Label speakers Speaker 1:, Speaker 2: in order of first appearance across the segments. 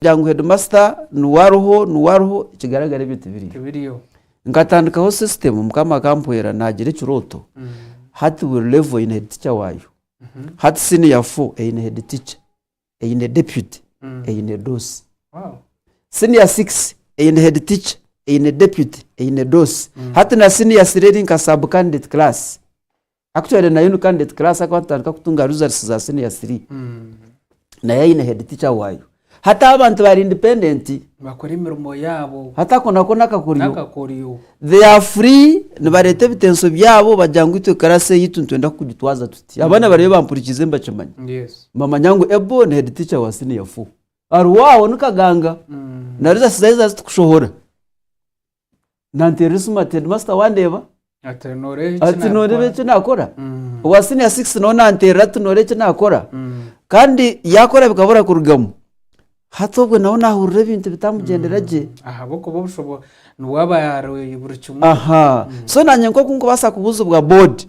Speaker 1: Kugira ngu hedimasita niwe ariho niwe ariho ekigaragara ebyo tibiriyo. Nkatandikaho sisitemu mukama akampwera naagira ekirooto hati buri revo eine heditica waayo. Hati siniya fo eine heditica, eine deputy, eine doosi. Siniya sikisi eine heditica, eine deputy, eine doosi. Hati na siniya siri eri nka sub candidate class. Aku twayenda na Yuni Candidate Class aku batandika kutunga results za senior 3 nayo ayine head teacher wayo hati aba bantu bari independent bakora emirimo
Speaker 2: yabo hatako nako nakakoryo
Speaker 1: nakakoryo they are free nibareta ebitenso byabo bagira ngu itwe class eyitu nitwenda kugitwaza tuti abana bariyo bampurikize nibakimanya yes nibamanya ngu Abel ni head teacher wa senior 4 aruwaho nikaganga na results zayo za zitukushohora nanteerera esimu ati hedimasita wandeeba ati nooreeba ati nooreeba eki nakora Mm. owa siniya sikisi nawe nanteerera ati nooreeba eki nakora Mm. kandi yakora bikabura kurugamu hati obwo nawe nahurira ebintu bitamugyendera gye ahabw'okuba obushobo
Speaker 2: niwe aba ari buri kimwe aha so nanye
Speaker 1: nk'oku nkubaasa kubuuzibwa boodi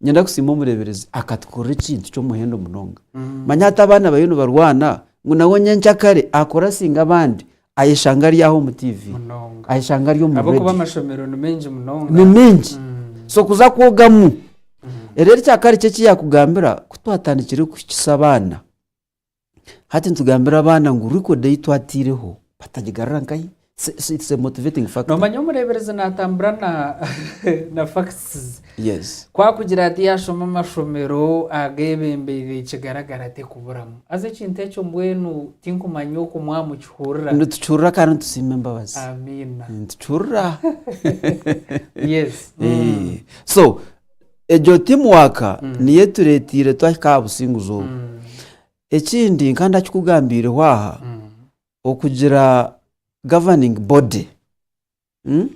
Speaker 1: Ninyenda kusiima omureeberezi akatukorera ekintu ky'omuhendo munonga. Manya hati abaana bariyo nibarwana ngu nawe nyenkya kare akora singa abandi ayeshanga ari aho omu TV, munonga ayeshanga ari omu ahabw'okuba radio. amashomero ni maingi
Speaker 2: munonga Ni mingi. Mm.
Speaker 1: So kuza kwogamu. Reero ekyakare ki eki yaakugambira ku twatandikire kuhikisa abaana? Hati nitugambira abaana ngu record ei twataireho batagigarura nkahi? It's a motivating factor. Nomanya omureeberezi
Speaker 2: naatambura na na facts. Yes. Ku akugira
Speaker 1: ati
Speaker 2: yaashoma amashomero ageebembeire kigaragara tekuburamu. Haza ekintu ekyo mbwenu tinkumanya oku mwamukihurira. Nitukihurira kandi
Speaker 1: nitusiima embabazi. Amiina.
Speaker 2: Nitukihurirra. Yes.
Speaker 1: So, egyo timu waka niyo etureeteire twahika aha businguzi obu ekindi nka ndakikugambiireho aha okugira governing body mm,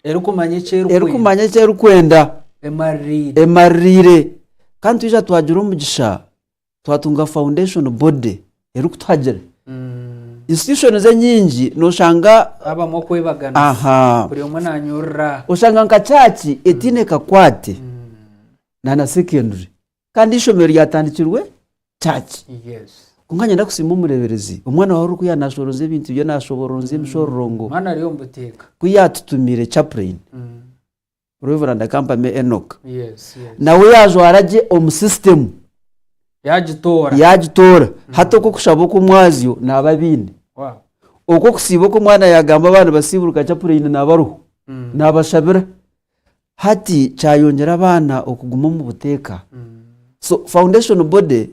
Speaker 1: erikumanya
Speaker 2: eki erikwenda erikumanya eki erikwenda
Speaker 1: emaririire emaririire kandi twija twagira omugisha twatunga foundation body erikutuhagira institutions enyingi noshanga habamu okwebagana
Speaker 2: aha buri omwe nanyorora oshanga nka church
Speaker 1: etiine kakwate na na secondary kandi eishomero ryatandikirwe church yes kwonka nyenda kusiima omureberezi omwana wawe orikuya nashoroza ebintu bye nashoboronza emishororongo omwana ari omu buteeka
Speaker 2: ku yatutumire
Speaker 1: chaplain Reverand Kampame Enock Yes, yes. nawe
Speaker 2: yaajwara
Speaker 1: gye omu sisitemu Yagitoora. yaagitoora hati okw'okushaba okw'omwazyo naaba abiine Wow. okw'okusiiba oku omwana yaagamba abana nibasiiburuka chapureini naaba ariho Mm. naabashabira hati kyayongyera abaana okuguma omu buteeka Mm. so foundation body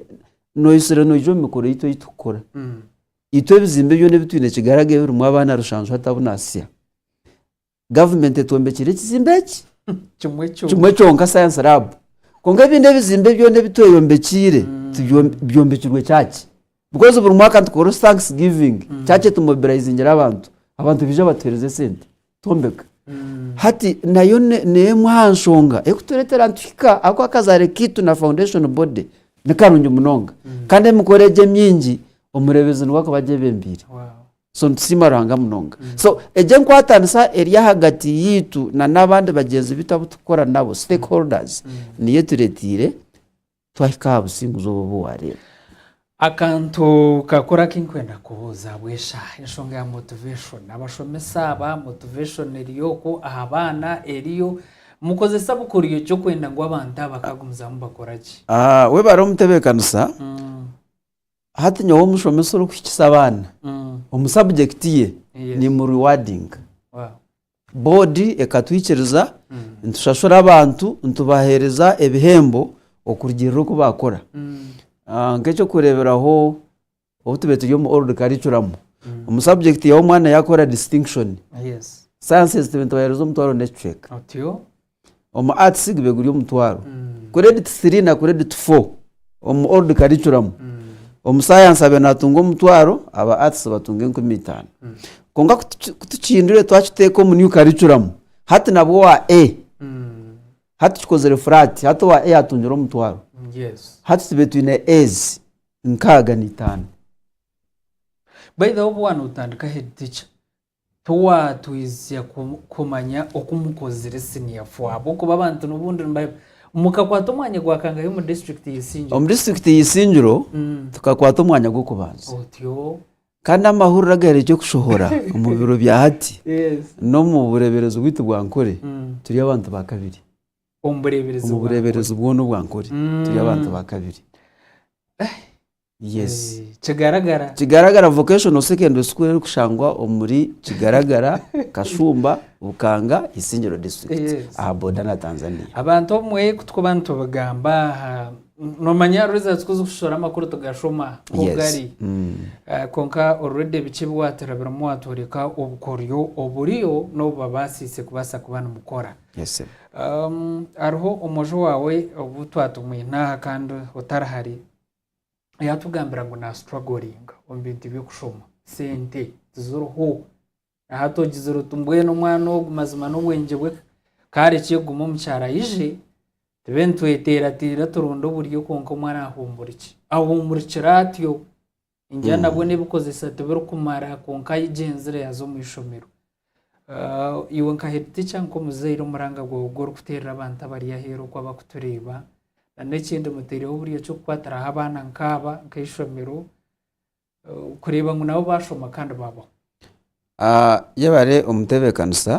Speaker 1: noyitsire noija omu mikoro yaitu ei turikukora Mm. itwe ebizimbe byona ebi twine kigaraga ebirimu abaana rushanju hati abu naasya Gavumenti etwombekire ekizimbe eki kimwe kimwe kyonka kyonka Science Lab. Kwonka ebindi ebizimbe byona ebi tweyombekiire tibyo- byombekirwe church. Because buri mwaka nitukora oru thanks giving, church etumobilizingira abantu, abantu baija batuhereza esente twombeka. Hati nayo ne- n'emwe aha nshonga erikutureetera nituhika ahabw'okuba akazaare kaitu na foundation body ni karungi munonga. Kandi emikoro egi emingi omureebezi niwe arikuba agyebembeire. Wow. So nitusiima Ruhanga munonga. So egi enkwatanisa eri ahagati yaitu na n'abandi bagyenzi baitu abu turikukora nabo, stakeholders, niyo etureeteire twahika aha businguzi obu obu waareeba. Akantu
Speaker 2: kakuru aku ndikwenda kubuuza ahabw'eshaaha, enshonga ya motivation. Abashomesa aba, motivation eriyo okwo aha baana eriyo. Mukozesa bukoryo ki okwenda ngu abantu aba bakagumizamu bakora gye? Webare
Speaker 1: omutebeekanisa. Hati nyowe omushomesa orikuhikisa abaana omu subject ye Yes. nimurewardinga. Wow. Board ekatwikiriza nitushashura abantu nitubaheereza ebihembo okurugiirira oku baakora. Ah, Nk'eky'okureeberaho obu tubaire turi omu old curriculum, omu subject yawe omwana yaakora distinction, Yes. sciences tubaire nitubaheereza omutwaro n'ekicweka. Otyo. omu arts gube guri omutwaro credit 3 na credit 4 omu old curriculum omu science abe natunga omutwaro aba arts batunga enkumi itano konka kutuki- kutukihindure twakiteeka omu new curriculum hati nabwo owa a hati kikozire flat hati owa a atungire omutwaro yes hati
Speaker 2: tube twine
Speaker 1: as nkaaga na itaano
Speaker 2: by the way obu wanotandika head teacher Tiwatwize kumanya oku mukozire senior four ahabw'okuba abantu n'obundi niba. Mukakwata omwanya gwa kangahe omu district ya Isingiro? Omu district ya Isingiro
Speaker 1: tukakwata omwanya gw'okubanza. Otyo.
Speaker 2: Kandi amahurire
Speaker 1: agaherekire okushohora omu biro bya hati n'omu
Speaker 2: bureeberezi
Speaker 1: bwaitu bwa Ankole turi abantu ba kabiri. Omu bureeberezi bwa Ankole?
Speaker 2: Omu bureeberezi bwona
Speaker 1: obwa Ankole turi abantu ba kabiri. Yes. Kigaragara. Kigaragara Vocational Secondary School erikushangwa omuri Kigaragara, Kashumba, Bukanga, Isingiro District Yes. aha boda na Tanzania. Abantu obumwe ku
Speaker 2: turikuba nitubigamba aha, noomanya results ku zirikushishora amakuru tugashoma nk'oku Yes. gari. Mm. Eh, Kwonka already biki ebi waatira birimu waatworeka obukoryo oburiyo n'obu babaasiise kubaasa kuba nimukora. Yes, sebo. Um, hariho omwojo waawe obu twatumwine aha kandi otari hare yatugambira ngu na struggling omu bintu by'okushoma sente tiziriho na hati ogizire oti mbwenu omwana ogu mazima n'obwengye bwe kare ki guma omukyaro ayije tube nitweteerateera turonde oburyo kwonka omwana ahumburikye ahumurikire atyo engyana bwo n'ebikozesa tibirikumara kwonka ayigyenzire yaza omu ishomero Iwe nka headteacher nk'omuzaire omuranga gwawe ogu orikuteerera abantu abari aheeru oku abakutureeba na n'ekindi muteireho buri eky'okukwatiraho abaana nk'aba nk'eishomero kureeba ngu nabo baashoma kandi baabaho.
Speaker 1: Yebare omutebeekanisa,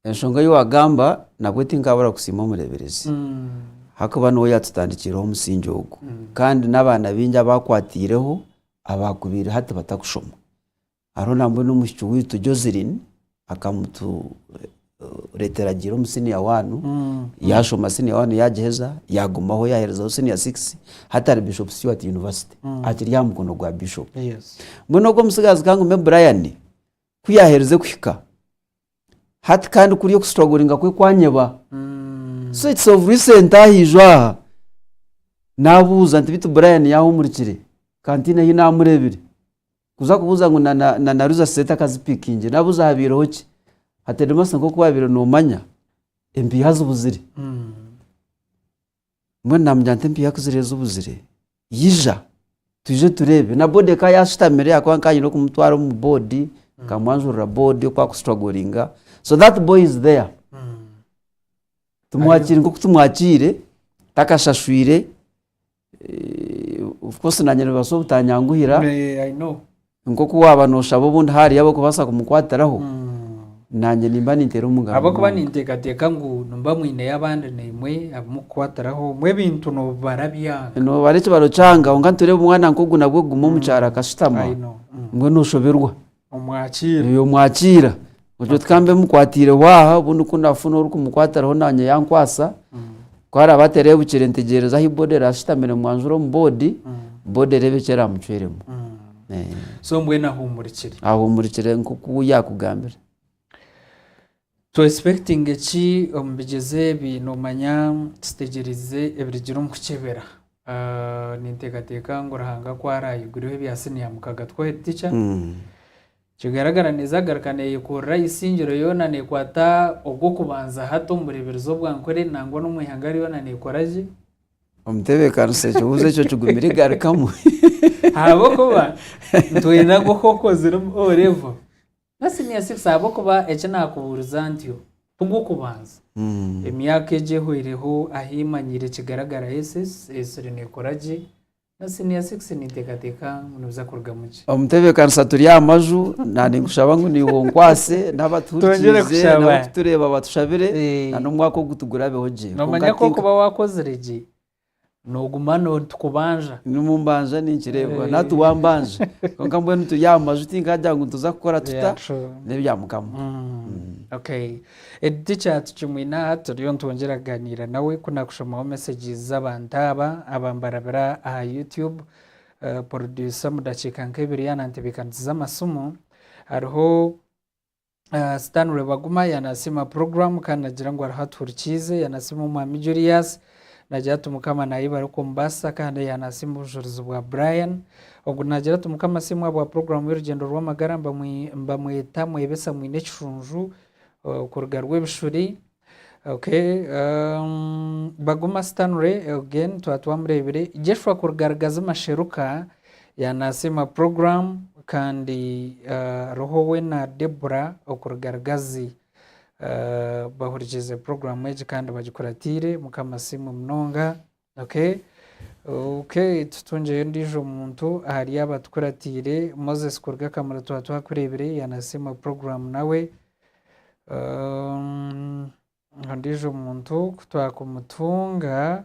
Speaker 1: enshonga ei waagamba nabwe tinkaabura kusiima omureeberezi ahakuba niwe yaatutandikiireho omusingi ogu kandi n'abaana baingi abu akwataireho abaakubaire hati batakushoma. Hariho nambwenu omuhiki waitu Joseline akamuturetera agiire omu senior one yashoma senior one yagiheza yagumaho yaherezaho senior six hati ari Bishop Stuart University akiri aha mukono gwa Bishop. Mbwenu ogu
Speaker 2: omutsigazi
Speaker 1: kangume Brian ku yaherize kuhika hati kandi kuri oku strugglinga kwe kwanyeba so it's of recent ahaijwe aha nabuuza nti beitu Brian yahumurikire kandi tihaine ahu namurebire. Kuza kubuuza ngu na, na, na naruza sente akazipikingire. Nabuuza habaireho ki? Hateedemasa nk'oku wabaire noomanya empiiha zibuzire. Mbwenu naamugira nti empiiha ku ziriyo zibuzire, ija twije tureebe. Na boodi ekaba yaashutamire ahakuba nkaba nyine kumutwara omu boodi, nkamwanjurira boodi oku akusituragoringa. So that boy is there. Tumwakire nk'oku tumwakire, takashashwire, Eh, of course nanye nibibaasa obutanyanguhira Eh, I
Speaker 2: know. nk'oku waaba
Speaker 1: nooshaba obundi haariyo ab'okubaasa kumukwatiraho Mm. nanye nimba ninteera omugaro ahabw'okuba munonga. ninteekateeka
Speaker 2: ngu nimba mwineyo abandi naimwe abumukukwatiraho mbwe ebintu noobibara byanga noobara ekibaro
Speaker 1: kyanga kwonka nitureeba omwana nk'ogu nabwo kuguma omu kyaro akashutama I know. Mm. mbwenu oshoberwa omwakiira. Eeh,
Speaker 2: omwakiira
Speaker 1: ogyo tikambe mukwatiireho aha obundi ku naafuna orikumukwatiraho naanye yankwatsa ku araabe atereebukire ntegyereze ahu boda eraabe eshutamire mwanjure omu boodi boda ereebe eki eraamucwiremu. Eeh.
Speaker 2: So mbwenu ahuumurikire. Ahuumurikire nk'oku
Speaker 1: yaakugambire.
Speaker 2: Tu expectinge ki omu bigyezo ebi? Noomanya tutegyereize ebirigira omu kukyebera. Ninteekateeka ngu Ruhanga ku araayigureho ebya siniya mukaga twohe tica, nikigaragara neeza kugaruka neeyekorera eisingiro yoona neekwata ogw'okubanza hati omu bureeberezi obwa nkore nangwa n'omu ihanga ryona neekora gye. Omutebeekanisa
Speaker 1: ekibuuzo ekyo kigumire igarukamu. Ahabw'okuba
Speaker 2: nitwenda ngu ku okozire O-Levo, Nasinyasinsa ahabw'okuba eki naakubuuriza ntyo ti gw'okubanza. Emyaka egi ehweireho ahi mmanyiire kigaragara SS esire neekora gye. Nasinyasinsa ninteekateeka ngu nibiza kurugamu gye. Omutebeekanisa turi aha
Speaker 1: maju, na ninkushaba ngu niiwe onkwatse, n'abatuhurikiirize, n'abarikutureeba batushabire, na n'omwaka ogu tugurabeho gye. Noomanya ku okuba
Speaker 2: waakozire gye, Noguma no nitukubanja. Nimumbanja
Speaker 1: ninkireebwa nati wambanja kwonka mbwenu turi aha maju tinkagira ngu nituza kukora tuta nebya mukama.
Speaker 2: Eki tikyatu kimwe n'aha turiyo nitwongyera kuganiira nawe ku nakushomaho messages z'abantu aba abambarabira aha YouTube. Producer omu dakiika nk'ebiri yanantebekanisiza amasimu hariho. Stanley Baguma ya nasiima program kandi nagira ngu ariho atuhurikiize ya nasiima omwami Julius nagira ati mukama nayebare oku omubasisa kandi ya nasiima obujurizi bwa Brian ogu nagira ati mukama siimwe abwa program y'orugyendo rw'amagara mbamweta mwebesa mwine ekishunju eh, okuruga rw'ebishuri Ok baguma Stanley again twaba twamureebire. Jeshua kuruga Rugazi Masheruka ya nasiima program kandi roho we na Deborah okuruga Rugazi bahurikiize program egi kandi bagikuratiire mukama asiimwe munonga. Okay okay tutungyeyo ondiijo muntu ahari aba tukuratiire Moses kuruga Kamuli twaba twakureebire yanasiima program nawe ondiijo muntu kutwakumutunga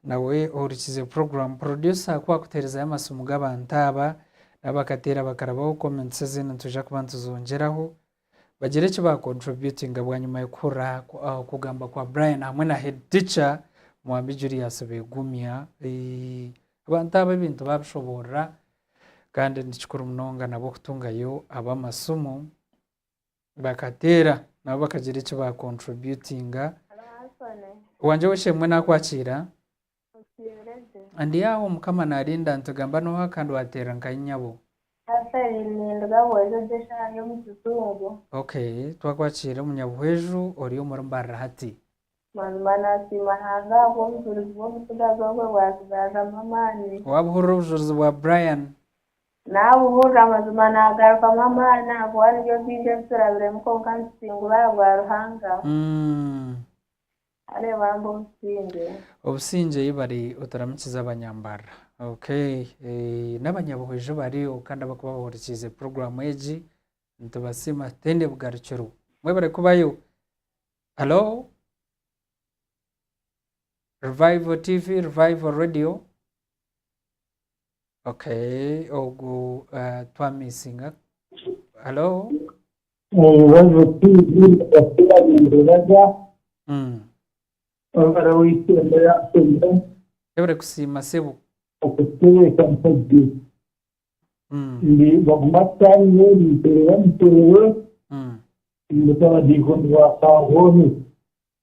Speaker 2: nawe ohurikize program producer ku akuteerezayo amasiimu g'abantu aba nabo bakateera bakarabaho comments ezindi nitwija kuba nituzoongyeraho Bagira eki ba contributinga bwanyima y'okuhurira aha kugamba kwa Brian hamwe na head teacher Mwambi Julius begumya. Abantu aba ebintu babishoborora kandi ni kikuru munonga nabo kutungayo ab'amasimu bakateera nabo bakagira eki ba contributinga. Wangye w'eshemwe nakwakiira. Muteereze. Ndi aho, Mukama naarinda, nitugamba nooha kandi waateerera nka Inyabo? Natalie, Ninduga bwojojo eshaaha y'omu kizungu. OK, twakwakiire omunyabuhweju ori omuri mbarira hati. Mazima naasiima Hanga ahabw'obujurizi bw'omutsigazi ogwe bwazigazamu amaani. Waabuhurira obujurizi bwa Brian? Naabuhurira,
Speaker 3: mazima naagarukamu amaani ahabw'obu hariyo bingi ebi turabiremu kwonka nitusingura ahabwa Ruhanga. Kare bambi obusingye. Obusingye
Speaker 2: ei bari oturamukize abanyambarra ok nabanyabuhwa iju bariyo kandi abakuba bahurikiize program egi nitubasiima tutende bugarukiro mwebare kubayo hallo revival TV revival radio ok ogu twamisinga hallo.
Speaker 4: Omubazi ki oku yaagendereraga obu ari ow'eishe-emwe yaashemire? Ebere kusiima
Speaker 2: sebo. Okutebeekanisa
Speaker 4: gye. Ndi baguma tutaanire, ninteerera muteere, ndi nk'abadiikoni ba Kaahoohe.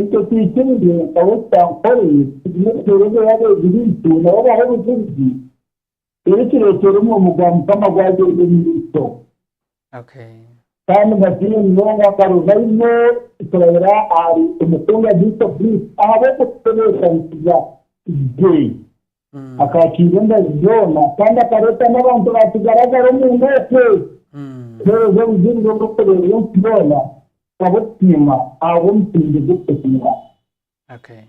Speaker 4: Itwe twikirize nka Wesitampore tugume tuheereze abeegi baitu nabo bahe obujulizi, eri kireetere omurimo gwa Mukama gwagyenda omu maisho. Okay.
Speaker 2: Kandi
Speaker 4: mbasiime munonga Karuvaimo kurabira ahari Omukunga Gwiso Bruce ahabw'okututebeekanisiza gye. Akaakiira embazi zoona kandi akareetamu abantu baakigaragara omunda okwe. Kuheereza Obujurizi obw'okureebera ensi yoona kukaba okusiima ahabw'omusingye gw'okusiima.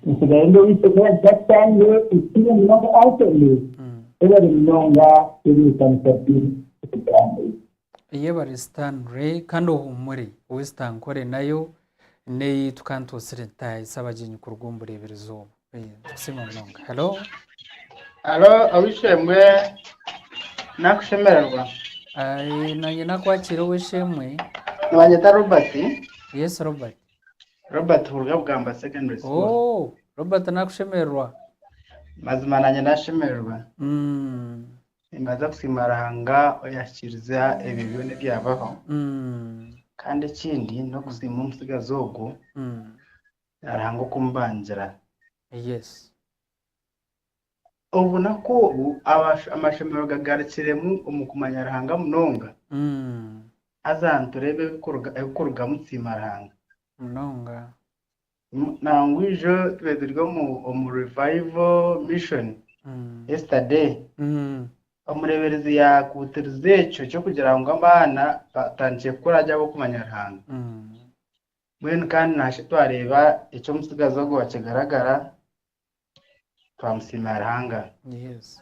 Speaker 2: Entsigaye ndeeise
Speaker 4: ku Abapakistani ekitiine munonga Anthony, ei bari munonga eri ekanisa ry'Orugabe.
Speaker 2: Eyebare Stanley kandi ohuumure. Ow'ezitankore nayo n'eyi tukantutsire ntaahi Sabagyenyi kuruga omu bureeberezi obu. Tukusiima munonga. Hello. Hello, Ow'eishe-emwe
Speaker 5: nakushemererwa. Nanye
Speaker 2: nakwakiire Ow'eishe-emwe. Nibanyeta
Speaker 5: Robert. Yes, Robert. Robert kuruga Bugamba Secondary School. Oh, Robert nakushemererwa.
Speaker 2: Mazima
Speaker 5: nanye nashemererwa. Mm. Nimbaasa kusiima Ruhanga oyaahikiriza ebyo byona ebyabaho. Kandi ekindi n'okusiima omutsigazi ogwo na Ruhanga okumubangira. Obunaku obu amashomero gagarukiremu omu kumanya Ruhanga munonga, haza nitureeba ebirikurugamu kusiima Ruhanga. Nangwa ijo tube turi omu Revival Mission Yesterday, omureeberezi yaakuutiriza ekyo ky'okugira ngu abaana batandikire kukura gye ab'okumanya Ruhanga. Mbwenu kandi naashi twareeba eki omutsigazi ogwo waakigaragara twamusiima Ruhanga. Yes.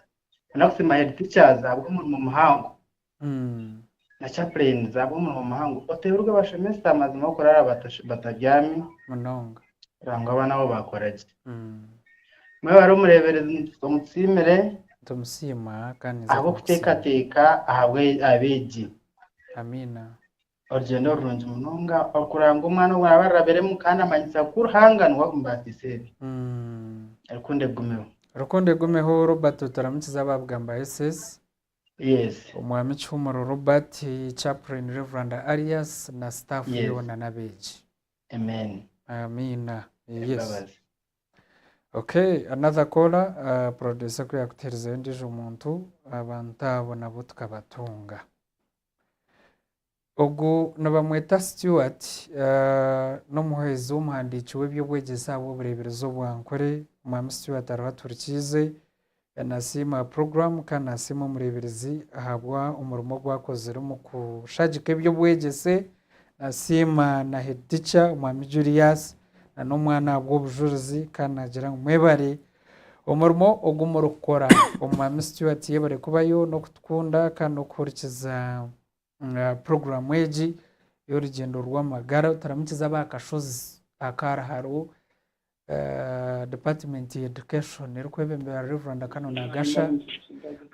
Speaker 2: Nda kusiima head
Speaker 5: teachers ahabw'omurimo muhango Mm. na chaplains ahabw'omurimo muhango oteeberwe abashomesa amazima okuraara batash- batabyami Munonga.
Speaker 2: kugira ngu abaana bo
Speaker 5: baakora gye. Mm. Mwebare omureeberezi nitu- omutusiimire Nitumusiima kandi
Speaker 2: ninza kumusiima. ahabw'okuteekateeka
Speaker 5: ahabwe- aha beegi. Amiina.
Speaker 2: Orugyendo
Speaker 5: rurungi munonga okuranga omwana ou araabe arabiremu kandi amanyisa ku Ruhanga niwe amubaasisa ebi. Rukundo egumeho.
Speaker 2: Rukundo egumeho Robert oturamukize abaabugha mba SS. Yes.
Speaker 5: Omwami Kihumuro
Speaker 2: Robert, Chaplain Rev. Arias na staff Yes. yoona n'abeegi. Amen.
Speaker 5: Amiina.
Speaker 2: Yes. Embabazi.
Speaker 5: Okay,
Speaker 2: another caller, ah, producer ku yaakutuherizeyo ondiijo muntu, abantu abo nabo tukabatunga. Ogu nibamweta Stuart n'omuhwezi w'omuhandiiki w'eby'obwegyese aha bw'obureeberezi obw'ankore. Mwami Stuart ariho aturikiize. Nasiima aha puroguramu kandi nasiima omureeberezi ahabw'omurimo ogu akozire omu kushagika eby'obwegyese. Nasiima na heedi tica omwami Julius na n'omwana ahabw'obujurizi kandi naagira ngu mwebare Omurimo ogu murikukora omu Mwami Stuart yebare kubayo n'okutukunda kandi n'okuhurikiza puroguramu egi y'orugyendo rw'amagara oturamukize ab'akashozi akaari hariho Department ya Education erikwebemberwa Rev. Canon Nagasha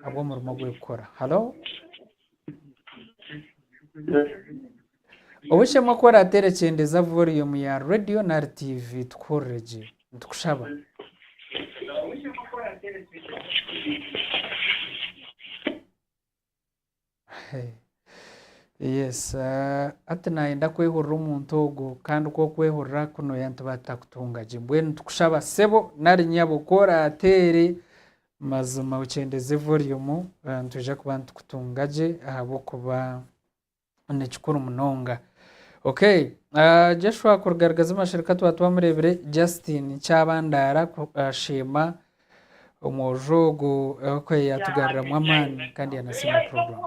Speaker 2: ahabw'omurimo ogu erikukora. Halo. Obushemeku orateera kyendeeza volume ya radio nari TV tukuhurire gye. Nitukushaba. Yes hati nayenda kwehurira omuntu ogwo kandi ku okwehurira kunoya nituba tutakutunga gye. Mbwenu nitukushaba sebo nari nyabo ku orateere Mazima okyendeze volume nitwija kuba nitukutunga gye ahabw'okuba ni kikuru munonga. Ok Joshua kuruga Rugazi Mashereka twaba twamureebire, Justin Kyabandaara asheema omwojo ogwo ahabw'okuba yaatugaruramu amaani kandi yanasiima puroguramu.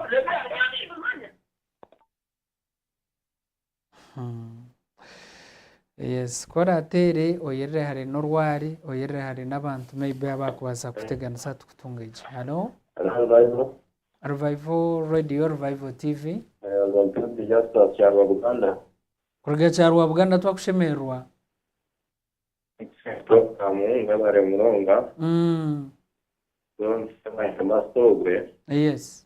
Speaker 2: Ku oraateere oyerere hare n'orwari, oyerere hare n'abantu maybe abaakubaasa kukuteganisa aha tukutunga egi. Halo? Revival Radio, Revival TV. Kuruga Kyarwa Buganda twakushemererwa. Yes.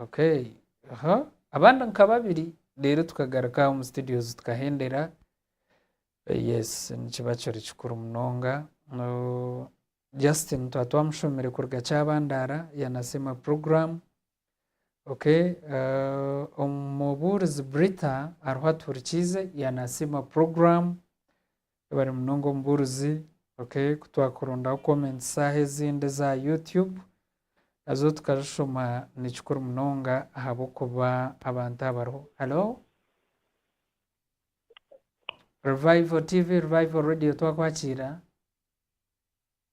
Speaker 2: Okay aha abandi nka babiri reero tukagaruka aha omu studios tukahendera yes nikiba kiri kikuru munonga Justine twaba twamushomire kuruga Kyabandara yanasiima program okay omubuurizi Britta ariho atuhurikiize yanasiima program Webare munonga omubuurizi. Ok kutwakurondaho comments saaha ezindi eza YouTube nazo tukazishoma nikikuru munonga ahabw'okuba abantu abo bariho. Hello? Revival TV, Revival Radio twakwakiira?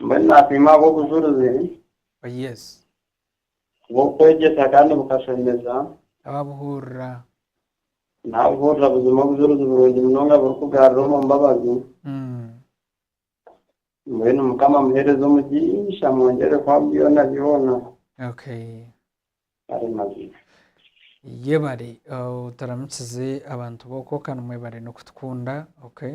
Speaker 6: Mbwenu naapima ab'obujurizi Oh, yes. bw'okwegyesa kandi bukashemeza. Ababuhurira. Naabuhurira buzima obujurizi burungi munonga burikugarura omu mbabazi. Mm. Mbwenu Mukama amuheereze omugisha amwongyere kuha byona byona. Okay.
Speaker 2: Ari
Speaker 6: mazima.
Speaker 2: Yebare. Oh, turamukize abantu b'oku Okan mwebare n'okutukunda. Okay.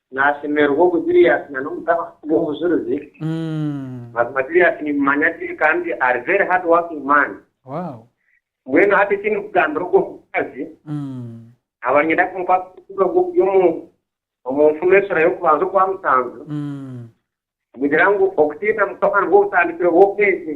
Speaker 2: Naashemererwa
Speaker 7: ogu Julius na n'omutabani we obujurizi, mazima Julius nimumanya gye kandi ari very hard working man.
Speaker 2: Mbwenu hati
Speaker 7: eki ndikugambira ogu omukazi, nkaba niinyenda kumukwasa obutumwa obu oburi omu omu nfumu esura y'okubanza okwa musanju, nigugira ngu okutiina Mukama nibwo butandikiro bw'obwengye.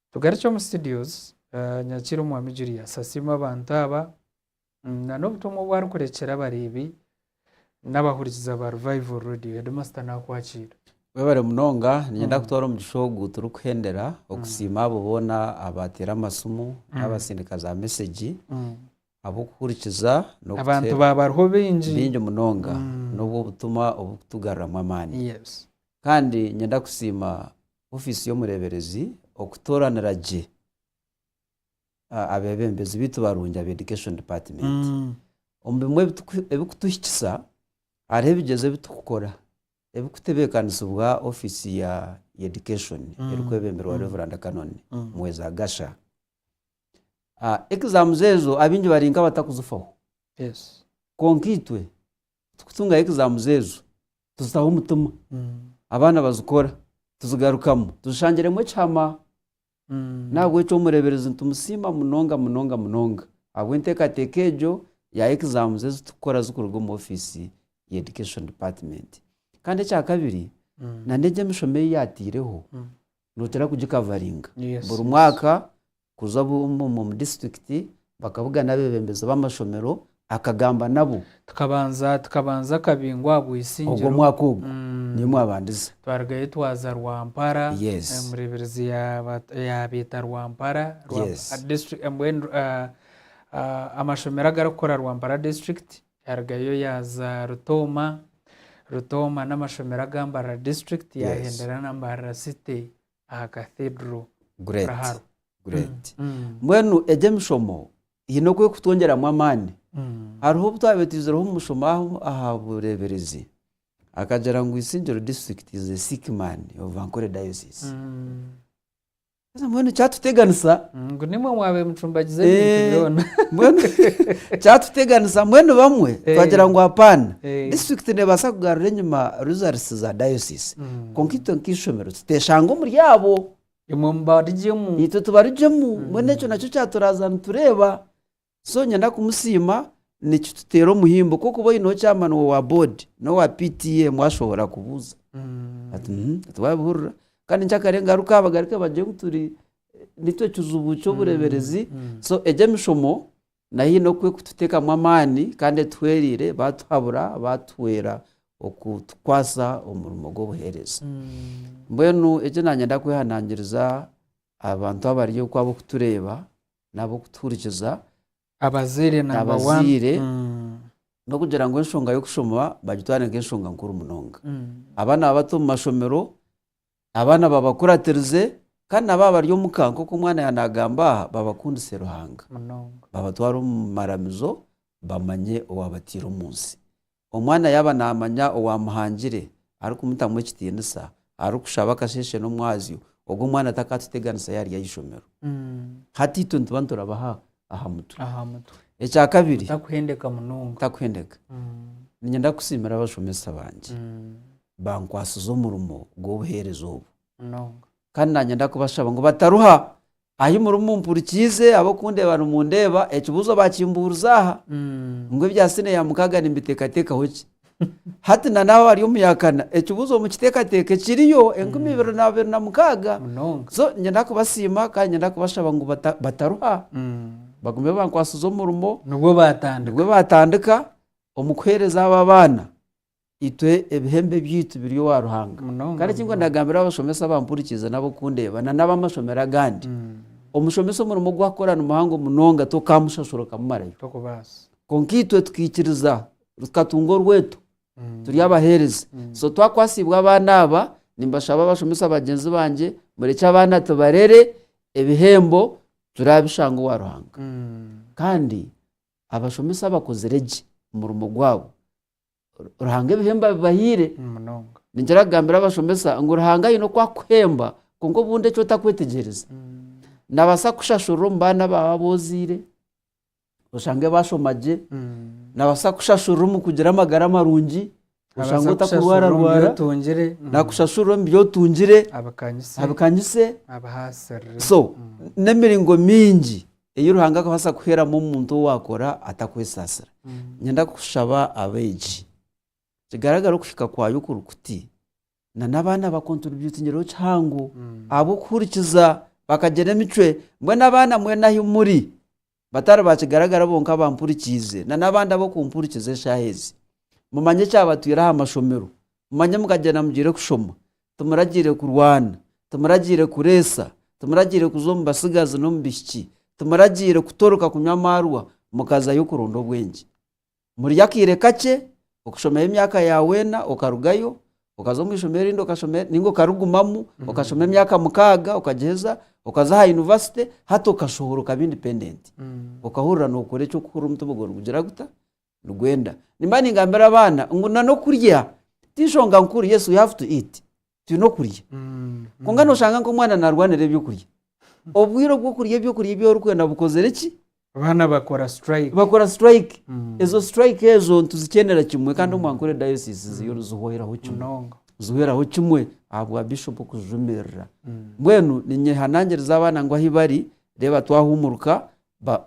Speaker 2: Tugarukye omu studios, Nyakiira Omwami Julius asiima abantu aba nana obutumwa obu arikurekyera abareebi n'abahurikiza ba Revival Radio. Headmaster naakwakiira. Webare munonga,
Speaker 1: ninyenda kutwara omugisha ogu turikuhendera okusiima abo boona abateera amasimu n'abatsindika za mesegi ahabw'okuhurikiza Abantu baaba bariho
Speaker 2: baingi. baingi munonga
Speaker 1: n'obw'obutumwa oburikutugaruramu amaani. Yes. Kandi
Speaker 2: nyenda
Speaker 1: kusiima ofiisi y'omureeberezi okutooranira gye ah, abeebembezi baitu barungi aba Education Department. Omu bimwe ebituku- ebikutuhikisa hariho ebigyezo ebi turikukora ebikutebeekanisibwa ofiisi ya ya Education erikwebemberwa Reverand Canon Mweza Gasha. Ah, Exams ezo abaingi bari nk'abatakuzifaho Yes.
Speaker 2: kwonka itwe
Speaker 1: tikutungayo exams ezo tuzitaho omutima abaana bazikora tuzigarukamu tuzishangiremu ekihama n'ahabw'ekyo omureeberezi nitumusiima munonga munonga munonga ahabw'enteekateeka egyo ya exams ezi turikukora zirikuruga omu ofiisi ya education department kandi ekyakabiri nana egi emishomo ei yaataireho notera kugikavaringa buri mwaka kuza omu district bakabugana abebembezi bamashomero akagamba nabo tukabanza
Speaker 2: akabingo aha bwisingiro ogwo mwaka ogwo
Speaker 1: niyo mwabandize twarigayo twaza
Speaker 2: Rwampara omurebirizi yabeta Rwampara mbwenu amashomero agarikukora Rwampara district Yarugayo yaaza Rutooma. Rutooma n'amashomero agambarira district yaahendera nambarira city aha cathedral. Great.
Speaker 1: Great. Mbwenu egi emishomo hiine oku erikutwongyeramu amaani. Hariho obu twaabaire twizireho omu mushomo aha bureeberezi akagira ngu Isingiro district is a sick man of Ankole diocese. Haza mbwenu kyatuteganisa Ngu nimwe mwaba
Speaker 2: mucumbagiza ebintu Eh, byona. mbwenu
Speaker 1: kyatuteganisa mbwenu bamwe Eh. twagira ngu apaana Eh. disiturikiti nebaasa kugarura enyima results za diocese Mm. kwonka itwe nk'eishomero tuteshanga omuri abo Imwe mubarigyemu.
Speaker 2: itwe tubarugyemu
Speaker 1: mbwenu ekyo nakyo kyaturaza nitureeba So nyenda kumusiima nikituteera omuhimbo ku okuba oine okyama niwe owa board n'owa PTA mwashohora kubuuza ati uhmm ati wabihurira kandi nkyakare ngaruka abagarike bagire ngu turi nikyo kizibu ky'obureeberezi so egyo emishomo nayo eine oku erikututeekamu amaani kandi etuhwereire baatuhabura baatuhwera okutukwasa omurimo gw'obuheereza. Mbwenu eki naanye ndakwehanangiriza abantu abari oku abarikutureeba n'ab'okutuhurikiza, Abazaire
Speaker 2: number one. abazaire, n'okugira
Speaker 1: ngu enshonga y'okushoma bagitware nk'enshonga nkuru munonga. Abaana babato omu mashomero, abaana babakuratirize kandi nabo abari omuka nk'oku omwana yaaba naagamba aha babakundise Ruhanga. Munonga. Babatware
Speaker 2: omu
Speaker 1: maramizo bamanye owaabataire omu nsi. Omwana yaaba naamanya owaamuhangire, arikumutamu ekitiinisa, arikushaba akasheeshe n'omwazyo, ogwo omwana takaatuteganisa yaarya aha ishomero. Hati itwe nituba niturabaha aha mutwe. aha mutwe Ekya kabiri, otakuhendeka munonga
Speaker 2: ntakuhendeka.
Speaker 1: Niinyenda kusiimira abashomesa bangye bankwatsize omurimo gw'obuheereza obu. munonga Kandi
Speaker 2: naanyenda
Speaker 1: kubashaba ngu bataruha Ahi murimu mumpurikiize, ab'okundeeba nimundeeba, ekibuuzo baakimbuuriza aha, ngu ebya siniya ya mukaaga nimbiteekateekaho ki? Hati na n'aho hari omuyakana, ekibuuzo mukiteekateeke, kiriyo, enkumi ibiri na abiri na mukaaga. Munonga. So,
Speaker 2: niinyenda kubasiima
Speaker 1: kandi niinyenda kubashaba ngu bata, bataruha, bagume bankwatsize omurimo. Nibwo baatandika. Nibwo
Speaker 2: baatandika
Speaker 1: omu kuheereza abo abaana. Itwe ebihembo ebyaitu biri owa Ruhanga. Munonga, Kandi ekinkuba munonga. nagambira abashomesa abampurikiize n'abokundeeba na n'abamashomero agandi, omushomesa omurimo ogu akora ni muhango munonga tokamushashura okamumarayo. Tokubaasa.
Speaker 2: Kwonka itwe
Speaker 1: tukaikiriza, tukatunga orweto, turi abaheereza. So twakwasiibwe abaana aba, nimbashaba abashomesa bagyenzi bangye, murekye abaana tubarere, ebihembo turabishange owa Ruhanga. Kandi abashomesa abakozire gye omurimo gwabo, Ruhanga ebihembo abibahaire. Ningira
Speaker 2: kugambira abashomesa
Speaker 1: ngu Ruhanga aine oku akuhemba kwonka obundi eki otakwetegyereza. Nabaasa kukushashurira omu baana baawe abu ozaire, oshange bashoma gye, nabaasa kukushashurira omu kugira amagara marungi, oshange otakurwararwara,
Speaker 2: nakushashurira omu bi
Speaker 1: otungire, abikanyise,
Speaker 2: so
Speaker 1: n'emiringo mingi. ei Ruhanga arikubaasa kuheeramu omuntu owaakora ata kwesaasira. Niinyenda kushaba abeegi, kigaragare okuhika kwayo okuri kuti, nana abaana baakwo nituri baitunyireho kihango ahabw'okuhurikiza bakagira emicwe. Mbwenu abaana mwena ahu muri, batari ba kigaragara bonka abampurikiize, nana abandi ab'okumpurikiza eshaaha ezi, mumanye ekyabatwire aha mashomero, mumanye mukagyenda mugire kushoma, Tumuragiire kurwana. Tumuragiire kureetsa. Tumuragiire kuza omu batsigazi n'omu baishiki. Tumuragiire kutoreka kunywa amaarwa, mukaza y'okuronda obwengye. Murye akaire kakye, okushomayo emyaka ya weena, okarugayo, okaza omu ishomero erindi okashoma, ninga okarigumamu, okashoma emyaka mukaaga, okagiheza, okaza aha yunivasite, hati okashohora okaba independent. Okahurira nookora eky'okuhurira omutima gwawe nigugira guta? nigwenda nimba ningambira abaana ngu na n'okurya tinshonga nkuru yes we have to eat twine okurya Mm. kwonka noshanga nk'omwana narwanira ebyokurya obwire obw'okurya ebyokurya ebi orikwenda bukozire ki abaana bakora
Speaker 2: strike bakora strike
Speaker 1: Mm. ezo strike ezo nituzikyendera kimwe kandi omu ankole diocese ziyo nizihoraho kimwe munonga zihoraho kimwe ahabwa bishop kuzijumirira Mm. mbwenu ninyehanangiriza abaana ngu ahi bari reeba twahumuruka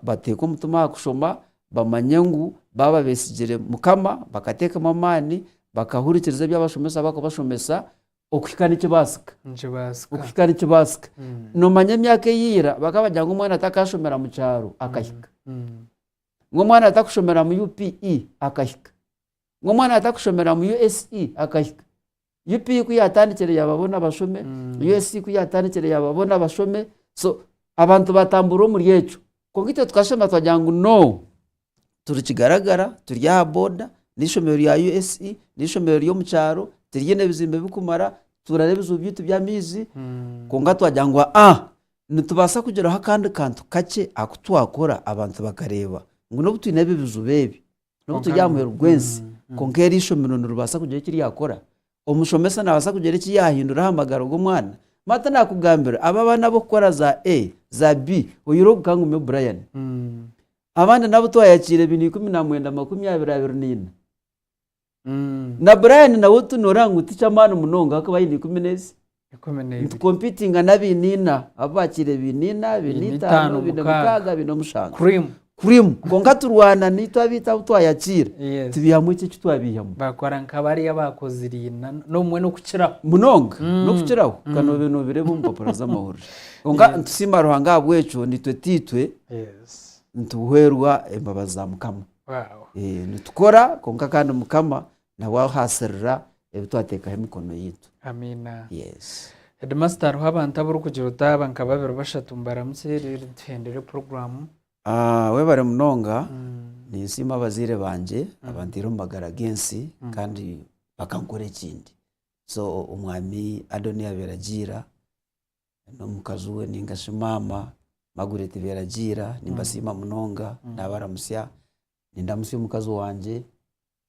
Speaker 1: bateeke omutima aha kushoma bamanye ngu baaba besigire mukama bakateekamu amaani bakahurikiriza ebi abashomesa barikubashomesa okuhika nikibaasika okuhika nikibaasika nomanya emyaka eyaira bakaba bagira ngu omwana takashomera mukyaro akahika ngu omwana atakushomera mu UPE akahika ngu omwana atakushomera mu USE akahika UP ku yaatandikire yaababona bashome, USC ku yaatandikire yaababona bashome, so abantu baatambura omuri ekyo. Kwonka itwe tukashema twagira ngu no, turi Kigaragara, turi aha boda, n'eishomero rya USE, n'eishomero ry'omu kyaro, tiriine bizimbe birikumara, nitutuura n'ebizibu byaitu by'amaizi, kwonka twagira ngu ha-a, nitubaasa kugiraho akandi kantu kakye aku twakora abantu bakareeba ngu n'obu twine ebi bizibu ebi, N'obu turi aha muheru gw'ensi, kwonka eri eishomero niribaasa kugira eki ryakora. Omushomesa naabaasa kugira eki yaahindura aha magara g'omwana. Marta naakugambira aba abaana ab'okukora za A, za B, oyihireho ogu ka ngume Brian. Abandi n'abu twayakiire baine ikumi na mwenda, makumi abiri, abiri na ina. Na Brian nawe tu nooreeba ngu ti ky'amaani munonga ahakuba aine ikumi n'ezi ikumi n'ebiri. Nitukompiitinga n'abaine ina, abu baakiire baine ina, baine Baine itaano, itaano, baine mukaaga. mukaaga, baine omushanju. Cream. Cream. Kwonka turwana naitwe abaitu abu twayakiira, Yes. tubaihamu eki eki twabaihamu. Bakora nk'abariya
Speaker 2: abaakozire ina, n'obumwe n'okukiraho. munonga
Speaker 1: n'okukiraho ka noobe noobireeba omu mpapura z'amahurire kwonka nitusiima ruhanga ahabw'ekyo naitwe taitwe Yes. nituhwerwa embabazi za mukama Wow. Eh, nitukora kwonka kandi mukama Nabwo aho haasirira ebi twateekaho emikono yaitu. Amiina. Yes. Heedimasita hariho
Speaker 2: abantu abarikugira otaaba nka babiri bashatu mbaramutse reero tuhendere puroguraamu. Ah, webare
Speaker 1: munonga. Ninsiima abazaire bangye abantaire omu magara g'ensi kandi bakankora ekindi. So, Omwami Adonia Beragiira n'omukazi we nainga shi maama Margaret Beragiira nimbasiima munonga. Naabaramutsya. Nindamutsya omukazi wangye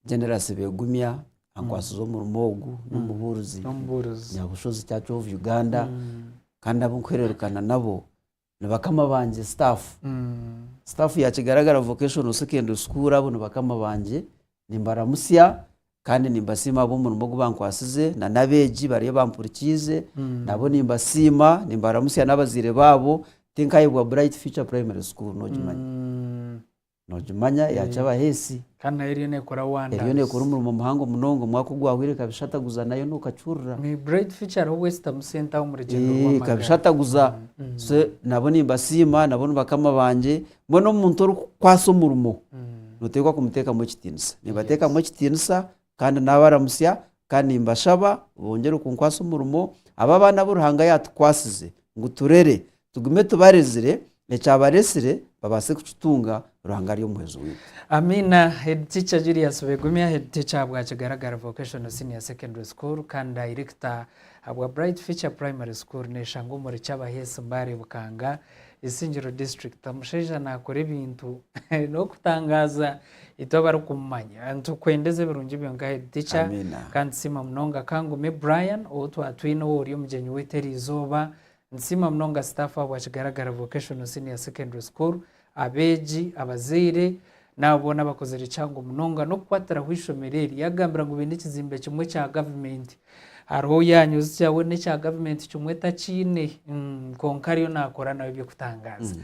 Speaker 1: Generous Begumya ankwatsize omurimo ogu n'omubuurizi N'omubuurizi. Nyabushozi Church of Uganda kandi abu nkuhererekana nabo ni bakama bangye staff. Mm. Staff ya Kigaragara Vocational Secondary School abo ni bakama bangye nimbaramutsya kandi nimbasiima ahabw'omurimo ogu bankwatsize na n'abeegi bari abampurikiize nabo nimbasiima nimbaramutsya n'abazaire baabo tinkayebwa Bright Future Primary School noogimanya. Mm. Nokimanya yakya abaheesi. Kandi nayo eriyo nekora
Speaker 2: wonders. Eriyo nekora omurimo muhango
Speaker 1: munonga omwaka ogwahweire ekabishataguza nayo nokakihurira. May bright future hariho
Speaker 2: obwesitamu sente aho omurugyendo rwamagara. Eeh ekabishataguza
Speaker 1: so nabo nimbasiima nabo nibakama bangye mbwenu omuntu orikukwasa omurimo noteekwa kumutekamu ekitinisa. Nimbatekamu ekitinisa Kandi naabaramutsya kandi nimbashaba bongyere kunkwasa omurimo, abe abaana abu Ruhanga yaatukwasize ngu turere, tugume tubarezire, ekyabaretsire babaase kukitunga, Ruhanga ari Omuhwezi waitu. Amiina. Head
Speaker 2: Teacher Julius Begumya, Head Teacher ahabwa Kigaragara Vocational Senior Secondary School kandi Dayirekita ahabwa Bright Future Primary School neeshangwa omuri Kyabaheesi Mbale Bukanga, Isingiro District. Omushaija naakora ebintu n'okutangaaza! Itwe abarikumumanya nitukwenda eze birungi byonka Head Teacher Amiina. kandi tusiima munonga Kangome Brian ou twatwine ou ori omugyenyi waitu eri izooba. Nitusiima munonga staff ahabwa Kigaragara Vocational Senior Secondary School, abeegi, abazaire n'abo boona abakozire kihango munonga n'okukwatiraho eishomero eri. Yagambira ngu baine ekizimbe kimwe ekya gavumenti Hariho ou yanyuzikya we n'ekya gavumenti kimwe takiine kwonka ariyo naakora nawe eby'okutangaaza.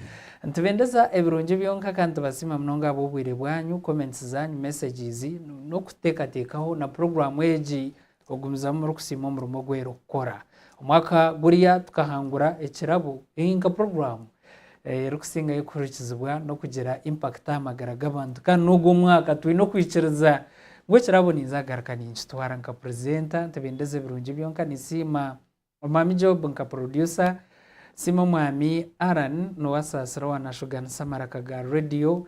Speaker 2: Nitubendeza ebirungi byonka kandi tubasiima munonga ahabw'obwire bwanyu, comments zaanyu, messages, n'okuteekateekaho na puroguraamu egi. Ogumizamu murikusiima omurimo ogu erikukora. Omwaka guriya tukahangura ekirabo, nka puroguraamu, erikusingayo kuhurikizibwa n'okugira impact aha magara g'abantu kandi n'ogwo omwaka twine okwikiriza ngu ekirabo ninza kugaruka ninkitwara nka purizenta ntibendeza ebirungi byonka ninsiima omwami Job nka purodusa nsiime omwami Allan Nuwasaasira owaanashuganisa amaraka ga radiyo